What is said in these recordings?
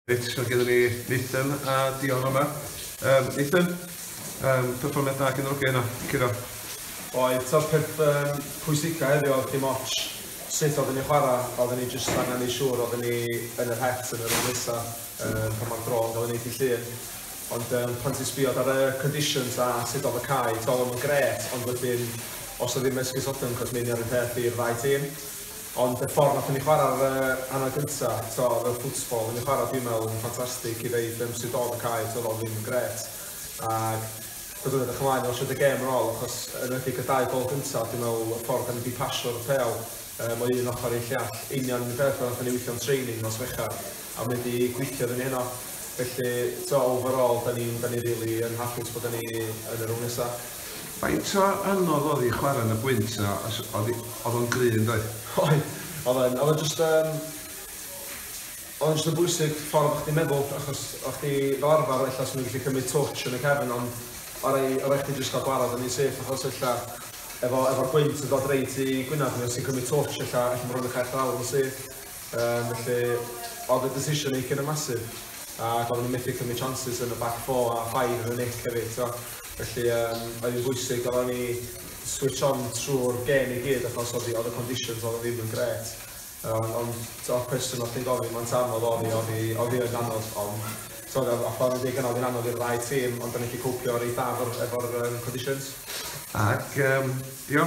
Reit, mae gennym ni Nathan a Dion yma. Um, Nathan, um, perfformiad da gen yr oge yna, Ciro. Oedd, ta'r peth um, pwysica heddiw oedd dim ots sut oedden ni chwarae, oedden ni jyst angen ei siŵr oedden ni yn yr het yn yr un nesaf um, pan mae'r dro'n gael ei wneud i llun. Ond um, pan ti'n sbio ar y conditions a sut oedd y cae, tawl yn gret, ond wedyn os oedd ddim esgus otem, cos mynd ar y peth i'r ddau tîm. Ond y ffordd nathon ni chwara'r hanner gynta t'o o'dd y football o'n ni chwara dwi'n me'wl yn ffantastig i ddeud yym sut o'dd y cae t'odd o ddim yn grêt ag byddwn edrych ymlaen i washad y gêm yn ôl achos yn enwedig y dau gol gynta dwi'n me'wl y ffordd o'n ni di pasio'r pêl yym o un ochor i'r llall union yn y peth fel nathon ni withio'n training nos Fercher a mae 'di gweithio iddyn ni heno. Felly, t'o', overall, 'dan ni'n, 'dan ni rili yn hapus bod ni yn y rownd nesa. Faint o anodd odd 'i chwara yn y gwynt a os odd 'i, odd o'n gry yndoedd? Oedd, odd yn, odd o jyst yn, odd o'n jyst yn bwysig ffordd o chdi meddwl achos o chdi fel arfar ella swn i'n gallu cymryd twtsh yn y cefn ond o rei, o rei chdi jyst ca'l gwarad yn un syth achos ella efo, efo'r gwynt yn dod reit i gwynab ni os ti'n cymryd twtsh ella, ella ma' rwyn yn cau'r llawr yn syth. Yym, felly, oedd y decision making yn massive, ac oedden nhw methu cymryd chances yn y back four a five yn y nick hefyd, tro. Felly, um, oedd hi'n bwysig oedden ni switch on trwy'r gen i gyd, achos oedd y conditions oedd ddim yn gret. Um, ond, tro, cwestiwn oedd chi'n gofyn, mae'n anodd oedd hi, oedd hi, oedd hi yn anodd, ond, tro, a ffordd yn dweud gynnal, oedd hi'n anodd i'r ddau tîm, ond da ni wedi cwpio reit dda efo'r um, conditions. Ac, um, dio,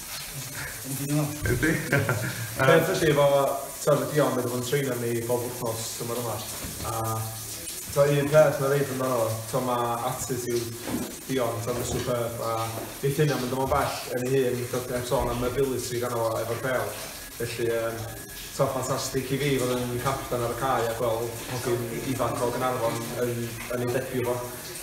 Yndi. Ond felly efo t'od y Dion wedi bod yn treino ni bob wthnos tymor yma a t'o' un peth ma' reit amdano fo t'o' ma' attitude Dion t'o' ma'n superb a neith hynna mynd â fo'n bell yn ei hun t'od heb sôn am mobility ganddo fo efo'r pêl felly yym t'o' ffantastig i fi fod yn capten ar y cae a gweld hogyn ifanc o Gaernarfon yn yn ei debut fo.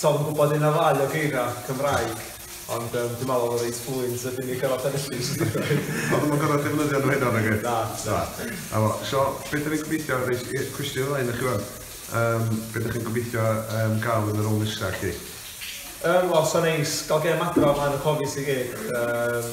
Tom yn gwybod un neu ddau o geiriau Cymraeg, ond yym dwi'n meddwl oedd o'n reit fluent a dim yn gorfod sefyll i jyst deud o. O, dwi'm yn gorfod defnyddio nhw heno nage? Na, na. Na fo. So, be dan ni'n gobeithio, reit, yy cwestiwn i Wayne i chi wan, yym be dach chi'n gobeithio yym gael yn y rôl nesa chi? Yym wel, 'sa'n neis gael gêm adra o flaen y Cofis i gyd, yym.